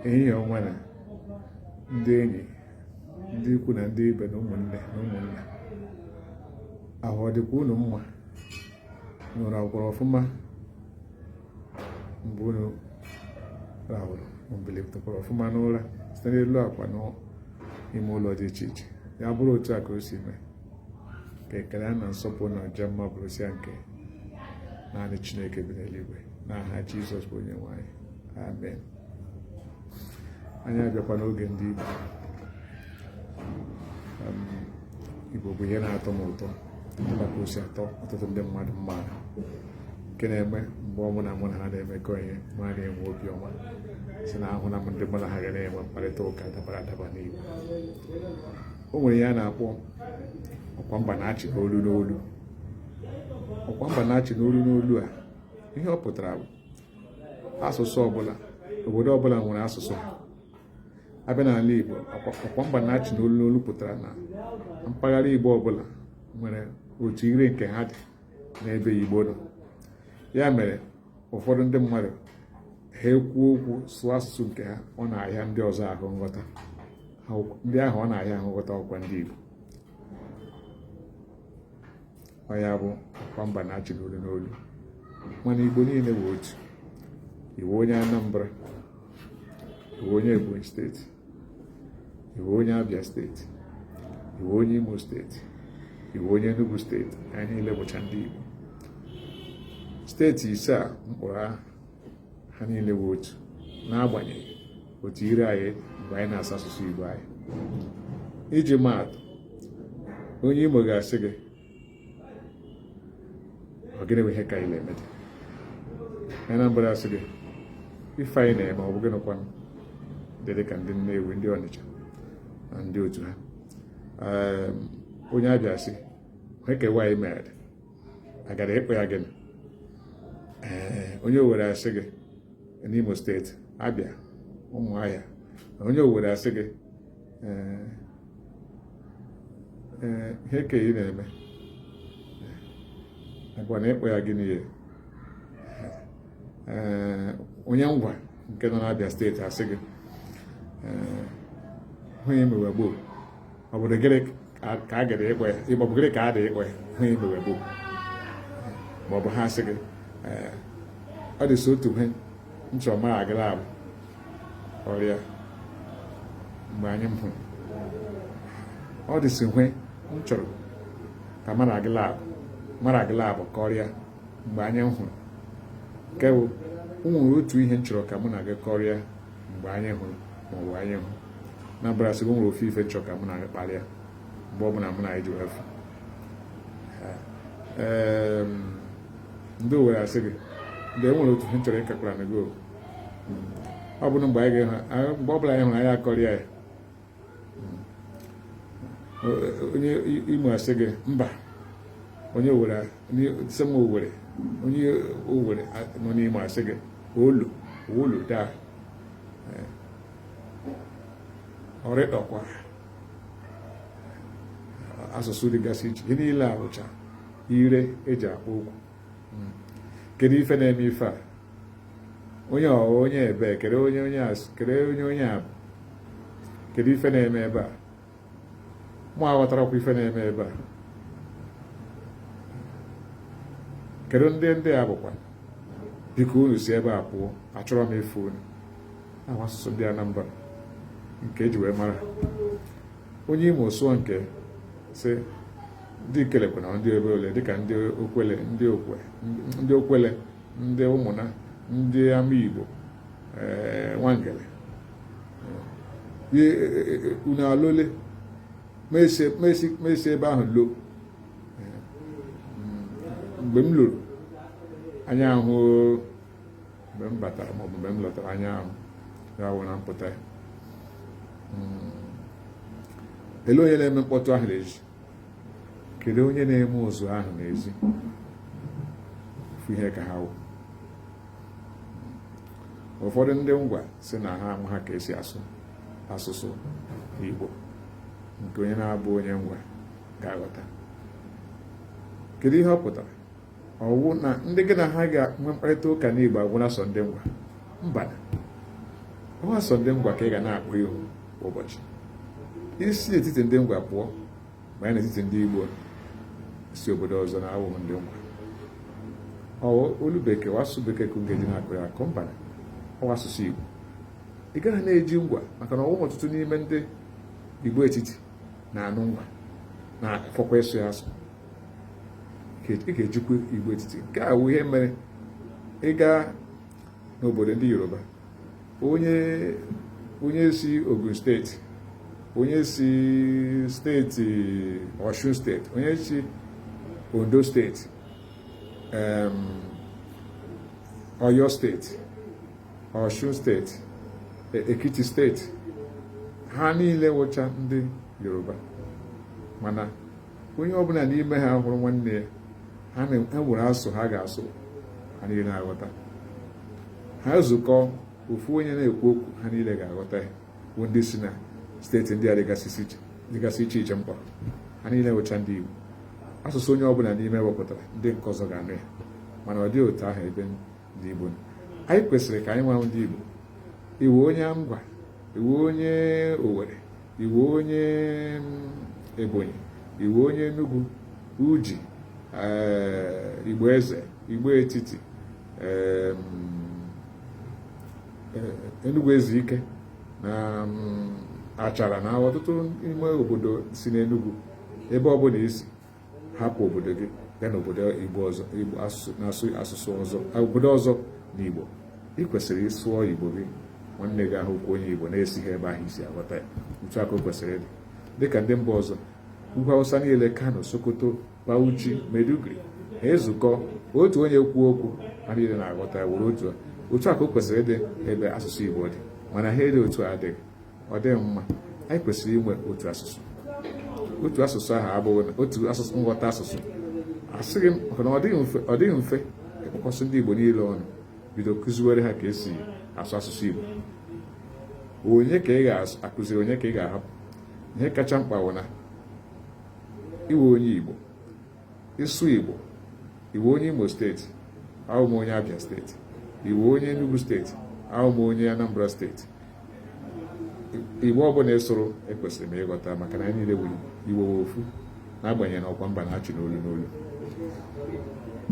ehihie ọma nụ ndị enyi ndị ikwu na ndị ibe na ụmụnne na ụmụnna ahụ ọ dịkwa unu mma unu rahụkwara ọfụma mgbe unu rahụrụ bilitekwara ọfụma n'ụra site n'elu akwa n'ime ụlọ dị iche iche ya bụrụ otu a ka o si mee ka ekele na nsọpụrụ na ịja mma bụrụsịa nke naanị chineke bi n'eluigwe n'aha jizọs bụ onye nwe anyị amen anyị abịakwa n'oge ndị igbo um, igbo bụ ihe na-atọ m ụtọ dịka ka o si atọ ọtụtụ ndị mmadụ mma nke na-eme mgbe ọ bụla mụ na ha na-emekọ ihe m na-enwe obiọma si na ahụna m ndị mụ na ha ga na-enwe mkparịta ụka dabara adaba n'igbo o nwere ihe a na-akpọ ọkwa mba na-achị n'olu n'olu ọkwa mba na-achị n'olu n'olu a ihe ọ pụtara bụ asụsụ ọbụla obodo ọbụla nwere asụsụ ha a bịa n'ala Igbo ọkwa mba na-achị n'olu n'olu pụtara na mpaghara Igbo ọbụla nwere otu ire nke ha dị n'ebe Igbo nọ ya mere ụfọdụ ndị mmadụ ha ekwuo okwu sụọ asụsụ nke ha ọ na-ahịa ndị ọzọ ahụ nghọta ndị ahụ ọ na-ahịa ahụ nghọta wụkwa ndị Igbo ọ ya bụ ọkwa mba na-achị n'olu n'olu mana Igbo niile bụ otu ị wụ onye Anambra ị wụ onye Ebonyi steeti ị wụ onye Abia steeti ị wụ onye Imo steeti ị wụ onye Enugu steeti anyị niile bụcha ndị Igbo steeti ise a m kpọrọ aha ha niile bụ otu n'agbanyeghị otu ire anyị mgbe anyị na-asụ asụsụ Igbo anyị iji maa atụ onye Imo ga-asị gị ọ gịnị bụ ihe ka ị na-eme onye Anambra asị gị ife ị na-eme ọ bụ gịnị kwanụ dị ka ndị Nnewi ndị Ọnịcha na ndị otu ha ehm, onye Abia sị heke nwaanyị mere agara ịkpọ ya gịnị ehm, onye Owere asị gị n'Imo steeti Abia Ụmụahịa onye Owere asị gị ee ihe ka ị na-eme agwa na ịkpọ ya gịnị ya ee onye Ngwa nke nọ n'Abia steeti asị gị onye mewe gboo ọ bụrụ gịrị ka a gara ịkpọ ya ịgbabụ gịrị ka a dị ịkpọ ya ha imewe bụ ma ọ bụ ha sị gị ọ dịsị otu ihe m chọrọ mara gị la abụọ kọrịa mgbe anyị hụrụ ọ dịsị ihe m chọrọ ka mara gị la mara gị la abụọ kọrịa mgbe anyị hụrụ nke bụ o nwere otu ihe m chọrọ ka mụ na gị kọrịa mgbe anyị hụrụ ma ọ bụ anyị hụ Anambra asị gị o nwere ofu ife m chọ ka mụ na gị kpalịa mgbe ọ bụla mụ na gị ji afụ ndị owere asị gị dee e nwere otu ihe a chọrọ ịkakwaranụ gị ọ bụrụ mgbe anyị ga-ehụ mgbe ọ bụla anyị hụrụ anyị akọrịa ya onye imo asị gị mba onye si imo owere onye owere nọ n'imo asị gị olo olo daa ọrịkpakwa asụsụ dịgasị iche ihe niile a bụcha ire eji akpọ okwu hmm. kedu ife na-eme ife a onye ọ bụ onye ebe kedu onye onye a bụ kedu onye onye a bụ kedu ife na-eme ebe a mụ aghọtarọkwa ife na-eme ebe a kedu ndị ndị a bụkwa biko unu si ebe a pụọ achọrọ m ịfụ unu ọ wụ asụsụ ndị Anambra nke eji wee mara onye imo sụọ nke sị ndị ikelekwe na ndị ebe ole dịka ndị okwele ndị okwe ndị okwele ndị ụmụna ndị amaigbo eh, nwangele eh, eh, unu alọle m esi ebe ahụ lọ mgbe m lọrọ ụnyaahụ mgbe m batara ma ọ bụ mgbe m lọtara ụnyaahụ ya wụ na mpụta ya hmm. ele onye na-eme mkpọtụ ahụ n'ezi kedu onye na-eme ụzụ ahụ n'ezi ofu ihe ka ha wụ ụfọdụ ndị ngwa sị na ha amaha ka esi asụ asụsụ Igbo nke onye na-abụghị onye ngwa ga-aghọta kedu ihe ọ pụtara ọwụ na ndị gị na ha ga-enwe mkparịta ụka n'Igbo ga-awụ na sọ ndị ngwa mba ọwa sọ ndị ngwa ka ị ga na-akpọ ihu ụbọchị i si n'etiti ndị ngwa pụọ baa n'etiti ndị Igbo si obodo ọzọ na-awụghị ndị ngwa ọwụ olu bekee ọwụ asụsụ bekee ka unu ga-eji na-akọ ya akọ mba ọwụ asụsụ Igbo ị gaghị na-eji ngwa maka na ọwụghị ọtụtụ n'ime ndị Igbo etiti na-anụ ngwa na-afọkwa ịsụ ya asụ ị ga-ejikwa igbo etiti nke a wụ ihe mere ịga n'obodo ndị yoruba onye onye si ogun steeti onye si steeti osun steeti onye si ondo steeti oyo steeti osun steeti e, ekiti steeti ha niile wụcha ndị yoruba mana onye ọbụla n'ime ha hụrụ nwanne ya ha nwere asụ ha ga-asụ ha niile na-aghọta ha zukọ ofu onye na-ekwu okwu ha niile ga-aghọta ya bụ ndị si na steeti ndị a dịgasị iche iche m kpọrọ ha niile wụcha ndị Igbo asụsụ onye ọbụla n'ime wepụtara ndị nke ọzọ ga-anụ ya mana ọ dịghị otu ahụ ebe ndị Igbo anyị kwesịrị ka anyị nwa wụ ndị Igbo ị wụ onye Ngwa ị wụ onye Owerri ị wụ onye mm, Ebonyi ị wụ onye Enugu Udi eh, Igbo Eze Igbo Etiti eh, Enugu Ezike na mm, Achara na ọtụtụ ime obodo si n'Enugu ebe ọbụla ị si hapụ obodo gị gaa n'obodo ọzọ na igbo ị kwesịrị ị sụọ igbo gị nwanne gị ahụ wụkwa onye igbo na-esighị ebe ahụ ị si aghọta ya otu a ka o kwesịrị ịdị dịka ndị mba ọzọ ugwu awụsa niile kano sokoto bauchi maiduguri ha zukọ otu onye kwuo okwu ha niile na-aghọta ya were otu otu a ka o kwesịrị ịdị ebe asụsụ igbo dị mana ha ede otu adịghị ọ dịghị mma anyị kwesịrị inwe otu asụsụ otu asụsụ ahụ abụghị na otu asụsụ nghọta asụsụ asịghị m na ọ dịghị mfe ịkpọkọsị ndị Igbo niile ọnụ bido kụziwere ha ka e si asụ asụsụ Igbo onye ka ị ga-akụziri onye ka ị ga-ahapụ ihe kacha mkpa bụ na ị wụ onye Igbo ị sụọ Igbo ị wụ onye Imo steeti awụ m onye Abia steeti ị wụ onye Enugu steeti awụ m onye Anambra steeti Igbo ọbụla ị sụrụ ekwesịrị m ịghọta maka na anyị niile wụ Igbo ofu n'agbanyeghị na ọkwa mba na-achị n'olu n'olu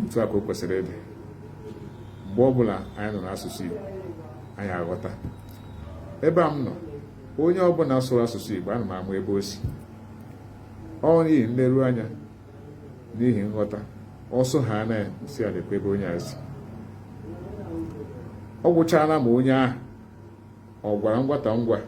otu a ka o kwesịrị ịdị mgbe ọbụla anyị nụrụ asụsụ Igbo anyị aghọta ebe a m nọ onye ọbụla sụrụ asụsụ Igbo ana m ama ebe o si ọ n'ihi nleru anya n'ihi nghọta ọ sụọ ya ana m asị lekwa ebe onye a si ọ gwụchaala ma onye ahụ ọ gwara ngwata ngwa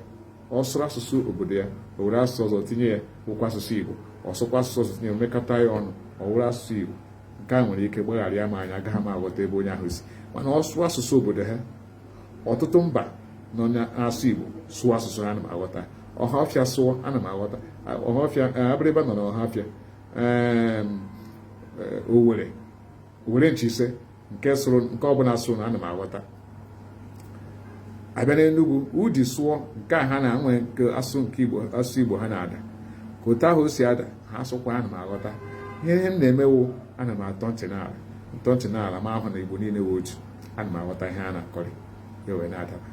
ọ sụrụ asụsụ obodo ya o were asụsụ ọzọ tinye ya wụkwa asụsụ Igbo ọ sụkwa asụsụ ọzọ tinye mekọta ya ọnụ ọ wụrụ asụsụ Igbo nke a nwere ike gbagharịa m anya agaghị m aghọta ebe onye ahụ si mana ọ sụrụ asụsụ obodo ha ọtụtụ mba nọ na-asụ Igbo sụọ asụsụ ha ana m aghọta ọhafịa sụọ ana m aghọta ọhafịa eh, abịrịba nọ na ọhafịa eh, owere owere nchi ise nke sụrụ nke ọbụla sụrụ na ana m aghọta abịa n'Enugu udi sụọ nke a ha na-enwe nke asụ nke Igbo asụ Igbo ha na-ada ka otu ahụ o si ada ha sụkwa ana m aghọta ihe ihe m na-eme wụ ana m atọ ntị n'ala m tọọ ntị n'ala m ahụ na Igbo niile wụ otu ana m aghọta ihe a na-akọrị ya wee na-adaba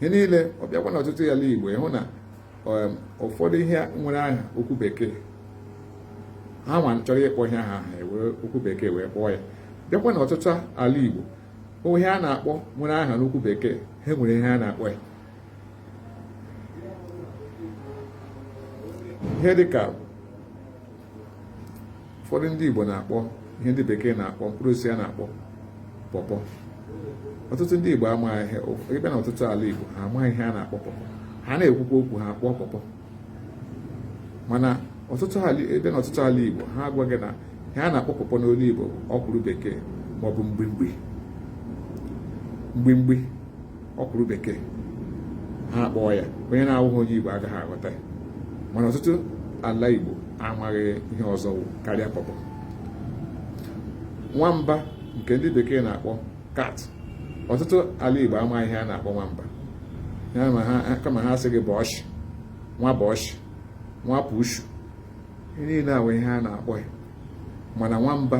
ihe niile ọ bịakwa na ọtụtụ ala Igbo ị hụ na um, ụfọdụ ihe nwere aha okwu bekee ha nwa chọrọ ịkpọ ihe aha ha ewere okwu bekee wee kpọọ ya bịakwa na ọtụtụ ala Igbo ihe a na-akpọ nwere aha n'okwu bekee ha nwere ihe a na-akpọ ya ihe dịka ụfọdụ ndị Igbo na-akpọ ihe ndị bekee na-akpọ mkpụrụ osisi a na-akpọ pọpọ ọtụtụ ndị Igbo amaghị ihe ị bịa na ọtụtụ ala Igbo ha amaghị ihe a na-akpọ pọpọ ha na-ekwukwa okwu ha akpọ pọpọ mana ọtụtụ ebe na ọtụtụ ala Igbo ha agwa gị na ihe a na-akpọ pọpọ n'olu Igbo ọkwụrụ bekee maọbụ mgbimgbi mgbimgbi ọkwụrụ bekee ha akpọọ ya onye na-awụghị onye Igbo agaghị aghọta ya mana ọtụtụ ala Igbo amaghị ihe ọzọ karịa pọpọ nwamba nke ndị bekee na-akpọ kat ọtụtụ ala Igbo amaghị ihe a na-akpọ nwamba kama ha asị gị bushi nwa bushi nwa pushu ihe niile a wụ ihe a na-akpọ ya mana nwamba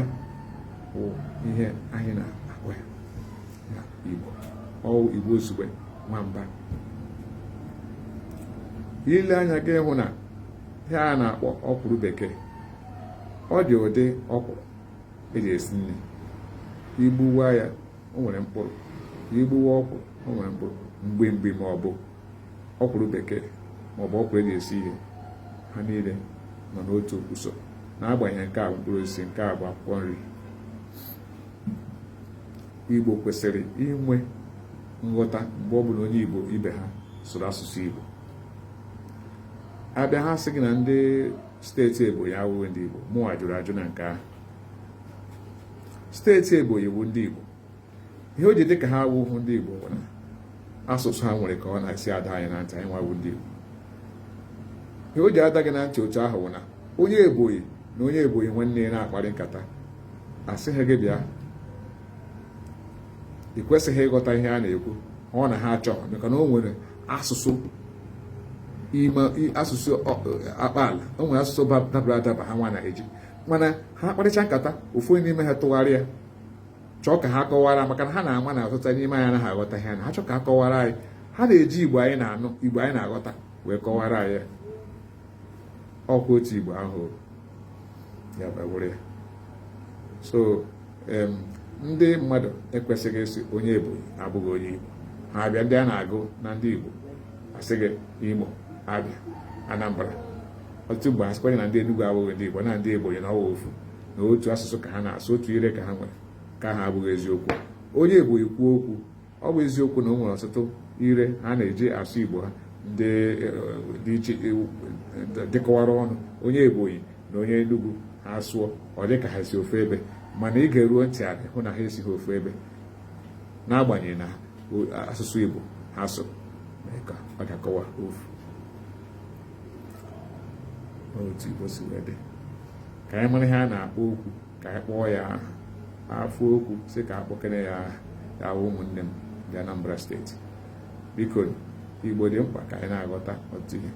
bụ ihe anyị na-akpọ ya Igbo ọ wụ Igbo Izugbe nwamba i lee anya ị ga-ahụ na ihe a na-akpọ ọkwụrụ bekee ọ dị ụdị ọkwụrụ eji esi nri igbuwa ya o nwere mkpụrụ igbuwa ọkwụrụ o nwere mkpụrụ mgbimgbi ma ọ bụ ọkwụrụ bekee ma ọ bụ ọkwụrụ eji esi ihe ha niile nọ n'otu usoro n'agbanyeghị nke a bụ mkpụrụ osisi nke a bụ akwụkwọ nri Igbo kwesịrị inwe nghọta mgbe ọ bụla onye Igbo ibe ha sụrụ asụsụ Igbo abịa ha sị gị na ndị steeti Ebonyi awụghị ndị Igbo mụwa jụrụ ajụ na nke ahụ steeti Ebonyi wụ ndị Igbo ihe o ji dị ka ha awụhụ ndị Igbo bụ na asụsụ ha nwere ka ọ na-esi ada anyị na ntị anyị nwa wụ ndị Igbo ihe o ji ada gị na ntị otu ahụ bụ na onye Ebonyi na onye Ebonyi nwanne ya na-akparị nkata asịghị gị bịa ị kwesịghị ịghọta ihe a na-ekwu ọ na ha achọghị maka na o nwere asụsụ ime asụsụ akpaala o nwere asụsụ dabara adaba ha nwa na-eji mana ha kparịcha nkata ofu onye n'ime ha tụgharịa chọọ ka ha kọwara maka na ha na-ama na ọtụtụ n'ime anyị anaghị aghọta ihe na ha chọọ ka ha kọwara anyị ha na-eji igbo anyị na-anụ igbo anyị na-aghọta wee kọwara anyị ọkwa otu igbo ahụ ya bụ bụrụ ya so ndị mmadụ ekwesịghị ịsị onye Ebonyi abụghị onye Igbo ha abịa ndị a na-agụ na ndị Igbo a sị gị Imo Abịa Anambra ọtụtụ mgbe a sịkwanye na ndị Enugu abụghị ndị Igbo na ndị Ebonyi na ọ wụ ofu na otu asụsụ ka ha na-asụ otu ire ka ha nwere nke a abụghị eziokwu onye Ebonyi kwuo okwu ọ bụ eziokwu na o nwere ọtụtụ ire ha na-eji asụ igbo ha ndị e, dị iche e, dịkọwara ọnụ onye ebonyi na onye enugwu ha sụọ ọ dị ka ha si ofu ebe mana i geruo ntị anị hụ na ha esighị ofu ebe n'agbanyeghị na asụsụ igbo ha so mee ka ọ dakọwa ofu otu igbo si wee dị ka anyị mara ihe a na-akpọ okwu ka anyị kpọọ ya afọ okwu sị ka a kpọkene ya wụ ụmụnne m ndị Anambra steeti biko igbo dị mkpa ka anyị na-aghọta otu ihe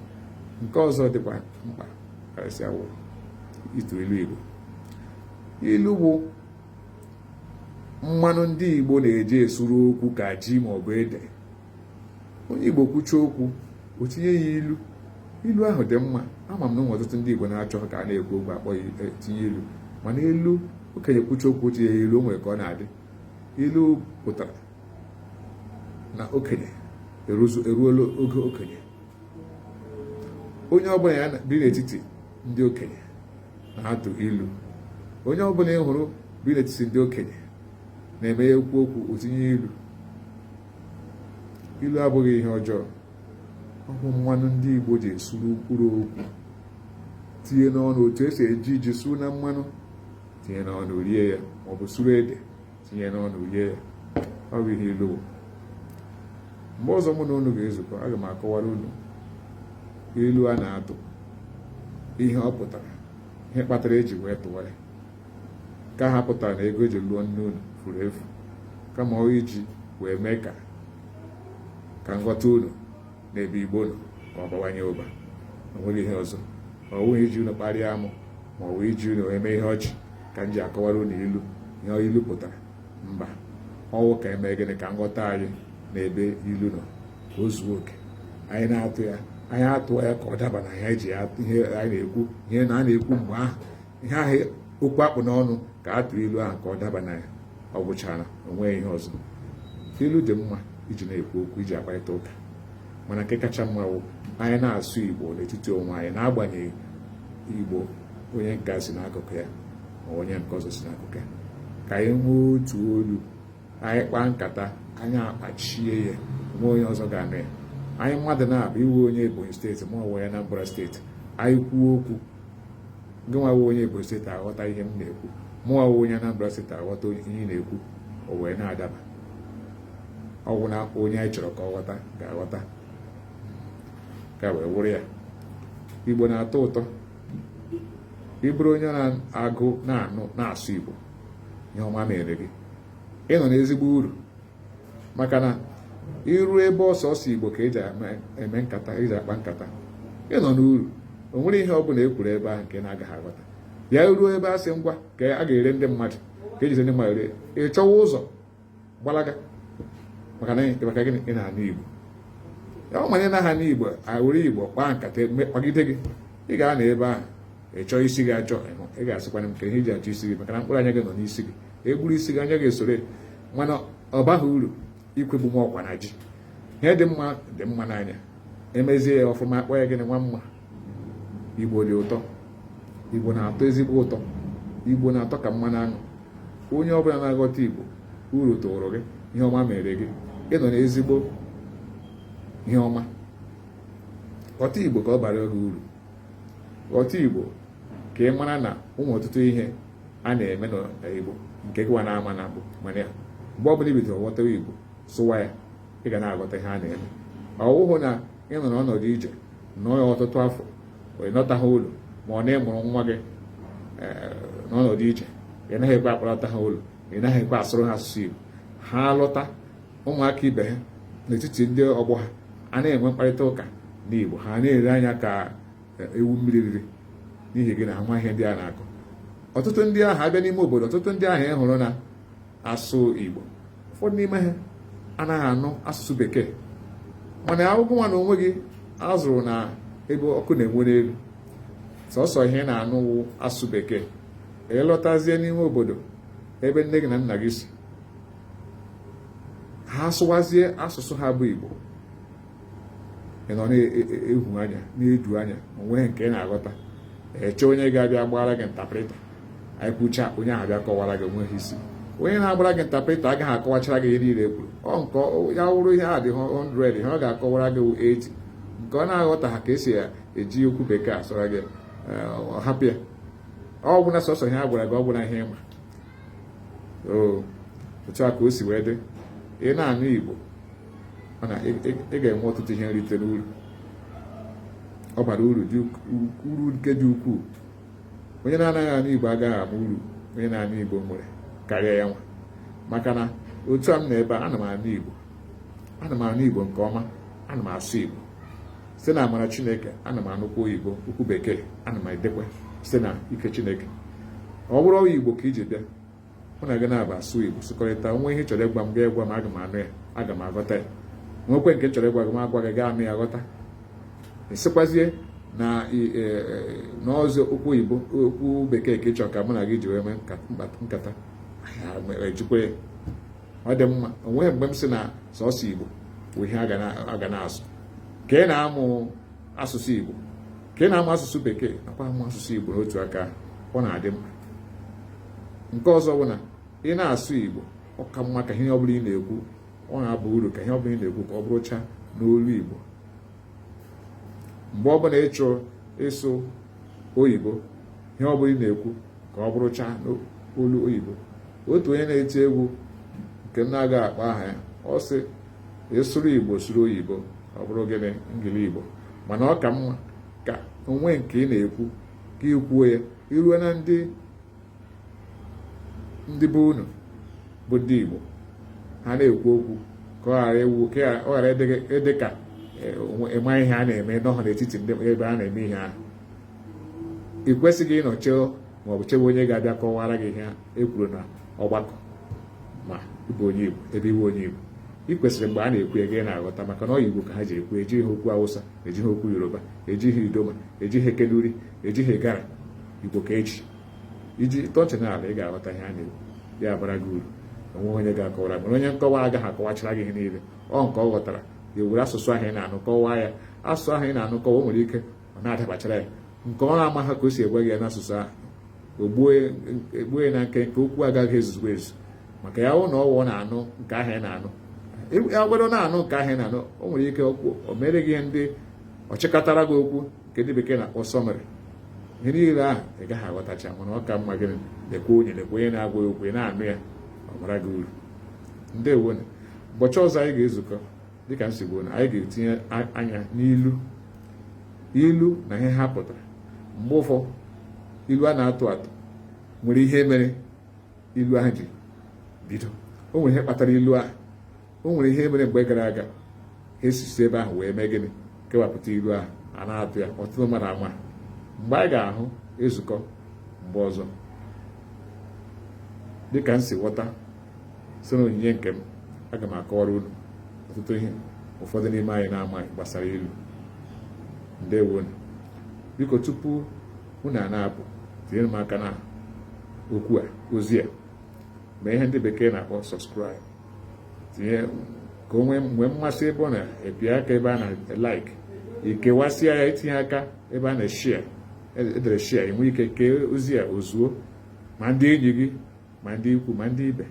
nke ọzọ dịkwa mkpa karịsịa wụ ịtụ ilu igbo ilu bụ mmanụ ndị igbo na-eji esuru okwu ka ji maọbụ ede onye Igbo kwuchaa okwu o tinye ya ilu ilu ahụ dị mma ama m na o nwere ọtụtụ ndị Igbo na-achọ ka a na-ekwu okwu akpọ e, tinye ilu mana ilu okenye kwuchaa okwu tinye ya ilu o nwere ka ọ na-adị ilu pụtara na okenye eruola oge okenye onye ọbụla ya bi n'etiti ndị okenye na-atụ ilu onye ọbụla ị hụrụ bi n'etiti ndị okenye na-eme ya kwuo okwu o tinye ilu ilu abụghị ihe ọjọọ ọ bụ mmanụ ndị Igbo ji esuru mkpụrụ okwu tinye n'ọnụ otu e si eji ji suru na mmanụ tinye n'ọnụ rie ya maọbụ suru ede tinye n'ọnụ rie ya ọ bụ ihe ilu wụ mgbe ọzọ mụ na unu ga-ezukọ aga m akọwara unu ilu a na-atụ ihe ọ pụtara ihe kpatara e ji wee tụwa ya ka ha pụtara na ego e ji lụọ nne unu furu efu kama ọ wụ iji wee mee ka ka nghọta unu n'ebe igbo unu ka ọ bawanye ụba o nweghị ihe ọzọ ọ bụghị iji unu kparịa amụ ma ọ bụ iji unu wee mee ihe ọchị ka m ji akọwara unu ilu ihe ilu pụtara mba ọ wụ ka e mee gịnị ka nghọta anyị na ebe ilu nọ ka o zuo oke anyị na-atụ ya anyị atụọ ya ka ọ daba na ihe eji ihe anyị na-ekwu ihe na a na-ekwu mgbe ahụ ihe ahụ okwu a kpụ n'ọnụ ka a tụrụ ilu ahụ ka ọ daba na ya ọ gwụchara o nwe ihe ọzọ ilu dị mma iji na-ekwu okwu iji akparịta ụka mana nke kacha mma bụ anyị na-asụ igbo n'etiti onwe anyị n'agbanyeghị igbo onye nke si n'akụkụ ya ma onye nke ọzọ si n'akụkụ ya ka anyị nwee otu olu anyị kpaa nkata anyị akpachie ya nwe onye ọzọ ga-anụ ya anyị mmadụ naabọ ị wụ onye ebonyi steeti ma ọ wụ onye anambra steeti anyị kwuo okwu gịnwa wụ onye Ebonyi steeti aghọta ihe m na-ekwu mụnwa wụ onye Anambra steeti aghọta ihe ị na-ekwu o wee na-adaba ọ wụ na onye anyị chọrọ ka ọ ghọta ga-aghọta ka wee wụrụ ya igbo na-atọ ụtọ ị bụrụ onye na-agụ na-anụ na-asụ igbo ihe ọma mere gị ị nọ n'ezigbo uru maka na i ruo ebe ọ sọsọ igbo ka eji eme nkata eji akpa nkata ị nọ n'uru o nwere ihe ọbụla e kwuru ebe ahụ nke na-agaghị aghọta bịa ruo ebe a sị ngwa ka a ga-ere ndị mmadụ ka ejizi ndị mmadụ ree ị chọwa ụzọ gbalaga maka na maka gịnị ị na-anụ igbo ya ọ ma ị naghị anụ igbo were igbo kpaa nkata kpagide gị ị ga-anọ ebe ahụ ị chọọ isi gị achọ ị ga-asịkwanye m ka ihe iji achọ isi gị maka na mkpụrụ anya gị nọ n'isi gị e gburu isi gị anya gị esore mana ọ baghị uru ikwugbu onwe ọkwa na ji ihe dị mma dị mma n'anya emezie ya ọfụma akpọ ya gịnị nwa mma igbo dị ụtọ igbo na-atọ ezigbo ụtọ igbo na-atọ ka mmanụ aṅụ onye ọbụla na-aghọta igbo uru tụrụ gị ihe ọma mere gị ị nọ n'ezigbo ihe ọma ghọta igbo ka ọ bara gị uru ghọta igbo ka ị mara na o nwe ọtụtụ ihe a na-eme n'Igbo nke gịwa na-ama na bụ mana ya mgbe ọ bụla i bidoro ghọtawa Igbo sụwa ya ị ga na-aghọta ihe a na-eme ọwụhụ na ị nọ n'ọnọdụ ije nọ ya ọtụtụ afọ ị lọtaghị ụlọ ma ọ na ị mụrụ nwa gị eh, n'ọnọdụ ije ị naghị ekwe akpọlọta ha ụlọ ị naghị ekwe asụrụ ha asụsụ Igbo ha lọta ụmụaka ibe ha n'etiti ndị ọgbọ ha a na-enwe mkparịta ụka n'Igbo ha na-ere anya ka ewu mmiri riri n'ihi gịnị ha amaghị ihe ndị a na-akọ ọtụtụ ndị ahụ abịa n'ime obodo ọtụtụ ndị ahụ ị hụrụ na asụ Igbo ụfọdụ n'ime ha anaghị anụ asụsụ bekee mana ọ wụ gịwa na onwe gị a zụrụ na ebe ọkụ na-enwu n'elu sọsọ ihe ị na-anụ wụ asụsụ bekee ị lọtazie n'ime obodo ebe nne gị na nna gị si ha sụwazie asụsụ ha bụ Igbo ị nọ na-ehu anya na-eju anya onweghị nke ị na-aghọta eche onye ga-abịa gbara gị ntaprịta anyị kwucha onye ahụ bịa kọwara gị onweghị isi onye na-agbara gị ntaprịta agaghị akọwachara gị ihe niile e kwuru ọ nke ya wụrụ ihe a dị 100 ihe ọ ga-akọwara gị 80 nke ọ na-aghọtaghị ka esi eji okwu bekee asụra gị eh, hapụ ya ọ gwụna sọsọ ihe a gwara gị ọ gwụna ihe ị ma otu a ka o si wee dị ị na-anụ Igbo mana ị ga-enwe ọtụtụ ihe nrite n'uru ọ bara uru uru nke dị ukwuu onye na-anaghị anụ igbo agaghị ama uru onye na-anụ igbo nwere karịa ya nwa maka na otu a m nọ ebe a ana m anụ igbo ana m anụ igbo nke ọma ana m asụ igbo site na amara chineke ana m anụkwa oyibo okwu bekee ana m edekwe site na ike chineke ọ bụrụwa igbo ka i ji bịa mụ na gị naabọ asụọ igbo sụkọrịta o nwee ihe ị chọrọ ịgwa m gị agwa m aga m anụ ya aga m aghọta ya nwekwe nke m chọrọ ịgwa gị m agwa gị gị anụ ya ghọta ị sịkwazie na e, e, na ọ bụzi okwu oyibo okwu bekee ka ị chọ ka mụ na gị ji wee mee nkata ejikwa ya ọ dị mma onweghị mgbe m sị na sọsọ igbo bụ ihe a ga na-asụ ka ị na-amụ asụsụ Igbo ka ị na-amụ asụsụ bekee nakwa amụ asụsụ Igbo n'otu aka ọ na-adị mma nke ọzọ bụ na ị na-asụ Igbo ọ ka mma ka ihe ọ bụla ị na-ekwu ọ na-aba uru ka ihe ọ bụla ị na-ekwu ka ọ bụrụcha n'olu Igbo mgbe ọ bụla ị chọrọ ịsụ oyibo ihe ọ bụla ị na-ekwu ka ọ bụrụcha n'olu oyibo otu onye na-eti egwu nke m na-agaghị akpa aha ya ọ sị ị sụrụ igbo sụrụ oyibo ọ bụrụ gịnị ngili igbo mana ọ ka mma ka o nwee nke ị na-ekwu ka i kwuo ya i ruo na ndị ndị be unu bụ ndị igbo ha na-ekwu okwu ka ọ ghara ịwụ ka ọ ghara ịdị ka ị maghị ihe a na-eme n'ọha n'etiti ndị ebe a na-eme ihe ahụ ị kwesịghị ịnọcheo maọbụ chewe onye ga-abịa kọwara gị ihe ahụ e kwuru na ọgbakọ ma ị bụ onye Igbo ebe ị wụ onye Igbo ị kwesịrị mgbe a na-ekwu gị ana-aghọta maka na ọ bụ igbo ka ha ji ekwu ejighị okwu awụsa ejighị okwu yoruba ejighị idoma ejighị kanuri ejighị igala igbo ka eji ị tọọ nchị n'ala ị ga-aghọta ihe a na-ekwu ya abara gị uru onweghị onye ga-akọwara mana onye nkọwa agaghị akọwachara gị ihe niile ọ nke ọ ghọtara ya were asụsụ ahụ ị na-anụ kọwaa ya asụsụ ahụ ị na-anụ kọwa o nwere ike ọ na-adabachara ya nke ọ na-amaghị ka o si agwa gị ya n'asụsụ ahụ egbuo ya na nkenke okwu agaghị ezuzugbo ezu maka ya na ọwụ na-anụ nke ahụ ya na-anụ agwado na-anụ nke ahụ ya na-anụ o nwere ike okwu o mere gị ihe ndị ọ chịkọtara gị okwu nke ndị bekee na-akpọ summary ihe niile ahụ ị gaghị aghọtacha mana ọ ka mma gị lekwe onye lekwe onye na-agwa ya okwu ị na-anụ ya ọ baara gị uru ndewo nụ ụbọchị ọzọ anyị ga-ezukọ dịka m si kwuo na anyị ga-etinye anya n'ilu ilu na ihe ha pụtara mgbe ụfọdụ ilu a na-atụ atụ nwere ihe mere ilu ahụ ji bido o nwere ihe kpatara ilu ahụ o nwere ihe mere mgbe gara aga ha esizi ebe ahụ wee mee gịnị kewapụta ilu ahụ a na-atụ ya ọtụtụ mmadụ ama mgbe anyị ga-ahụ ezukọ mgbe ọzọ dịka m si ghọta si na onyinye nke m aga m akọwara unu ọtụtụ ihe ụfọdụ n'ime anyị na-amaghị gbasara ilu ndewonụ biko tupu unu a na-apụ tinyere m aka na okwu a ozi a mee ihe ndị bekee na-akpọ subscribe tinye ka o nwee mgbe mmasị ebe ọ na ịpịa aka ebe a na-like i kewasịa ya i tinye aka ebe a na-eshia e dere share e nwee ike kee ozi a o zuo ma ndị enyi gị ma ndị ikwu ma ndị ibe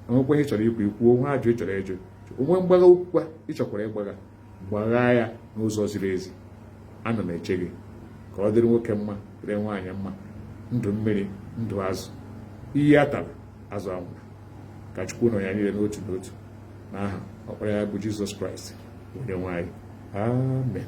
o nwekwa ihe ị chọrọ ikwu i kwuo o nwe ajụ ị chọrọ ịjụ o nwe mgbagha okwu kwa ị chọkwara ịgbagha gbagha ya n'ụzọ ziri ezi ana m eche gị ka ọ dịrị nwoke mma dịrị nwaanyị mma ndụ mmiri ndụ azụ iyi atala azụ anwụla ka chukwu nọnyere anyị niile n'otu n'otu n'aha ọkpara ya bụ jizọs kraịst onye nwe anyị amen